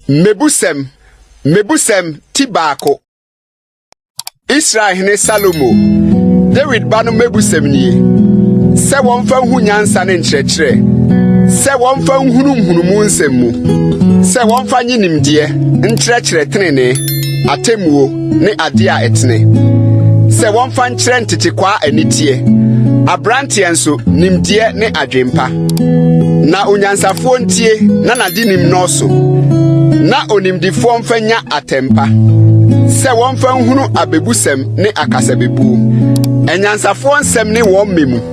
Mmebusɛm Mmebusɛm ti baako Israel hene Salomo Dawid ba no mmebusɛm nie sɛ wɔmfa nhu nyansa ne nkyerɛkyerɛ sɛ wɔmfa nhunu nhunumu nsɛm mu sɛ wɔmfa nye nimdeɛ nkyerɛkyerɛ tenenee atemmuo ne ade a ɛtene sɛ wɔmfa nkyerɛ ntetekwaa aniteɛ, aberanteɛ nso nimdeɛ ne adwempa. Na onyansafoɔ ntie na n'ade nim nnɔɔso, na onimdifoɔ mfa nya atɛmpa, sɛ wɔmfa nhunu abebusɛm ne akasabebuo. Anyansafoɔ nsɛm ne wɔn mmɛ mu.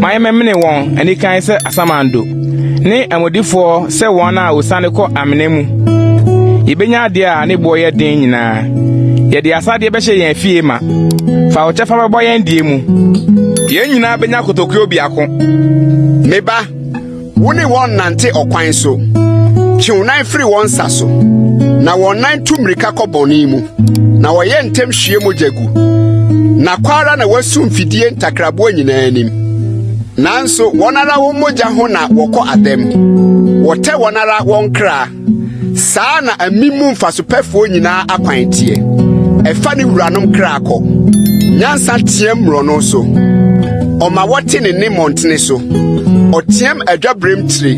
ma yɛmmɛmene wɔn anikan sɛ asamando, ne amodifoɔ sɛ wɔn a wɔsiane kɔ amena mu. Yɛbɛnya adeɛ a ne boɔ yɛ den nyinaa. Yɛde asadeɛ bɛhyɛ yɛn afie ma. Fa wo kyɛfa bɛbɔ yɛn deɛ mu. Yɛn nyinaa bɛnya kotokuo biako. Me ba, Wo ne wɔn nante ɔkwan so. Twe wo nan firi wɔn nsa so. Na wɔn nan tu mmirika kɔ bɔne mu. Na wɔyɛ ntɛm hwie mogya gu. Na kɔ ara na wɔasu mfidie ntakraboa nyinaa anim. Nanso wɔn ara wɔn mogya ho na wɔkɔ adɛm. Wɔtɛ wɔn ara wɔn kra. saa na amim mu mfasopɛfoɔ nyinaa akwan teɛ ɛfa ne wuranom kra kɔ nyansa teɛm mmorɔno so ɔma wɔte ne ne mmɔntene so ɔteɛm adwaberem tire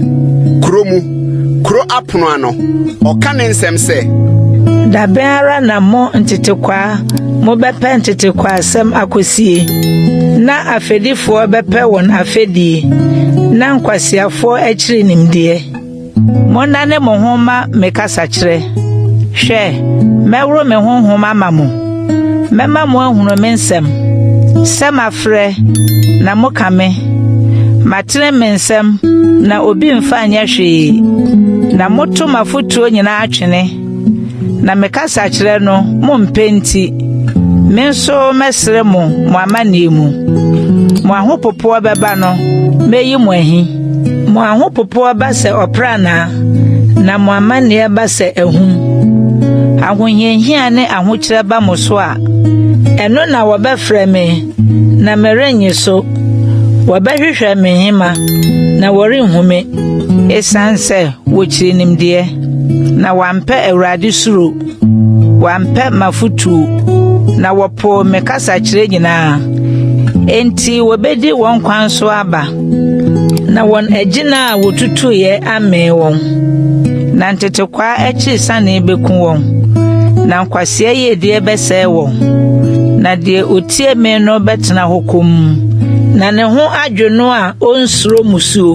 kuro mu kuro apono ano ɔka ne nsɛm sɛ dabɛn ara na mo ntetekwaa mobɛpɛ ntetekwaasɛm akosie na afɛdifoɔ bɛpɛ wɔn afɛdie na nkwasiafoɔ akyiri nimdeɛ Monnane mo ho mma me kasakyerɛ. Hwɛ, mɛworo me honhom ama mo. Mɛma moahunu me nsɛm, sɛ mafrɛ, na moka me. Matene me nsɛm, na obi mfa nyɛ hwee, na moto m'afotuo nyinaa twene. Na mekasa kyerɛ no mo mpɛ nti, me nso mɛsrɛ mo mo amanneɛ mu. Mo ahopopoɔ bɛba no, mɛyi mo ahi. Mo ahopopoɔ ba sɛ ɔpranaa, na mo amanneɛ ba sɛ ahum. Ahohiahia ne ahokyerɛ ba mo so a, ɛno na wɔbɛfrɛ me Na merennye so. Wɔbɛhwehwɛ me nhema, na wɔrenhu me. Esiane sɛ wokyiri nimdeɛ, na wɔampɛ Awurade suro, wɔampɛ m'afotu, na wɔpoo me kasakyerɛ nyinaa. Enti wobedi wɔn kwan so aba. Na wɔn agyina a wɔtutuiɛ amee wɔn, na ntetekwaa akyiri sanee bɛku wɔn, na nkwasea yiedie bɛsɛe wɔn. Na deɛ ɔtie me no bɛtena hɔ komm, na ne ho adwo no a ɔnsuro musuo.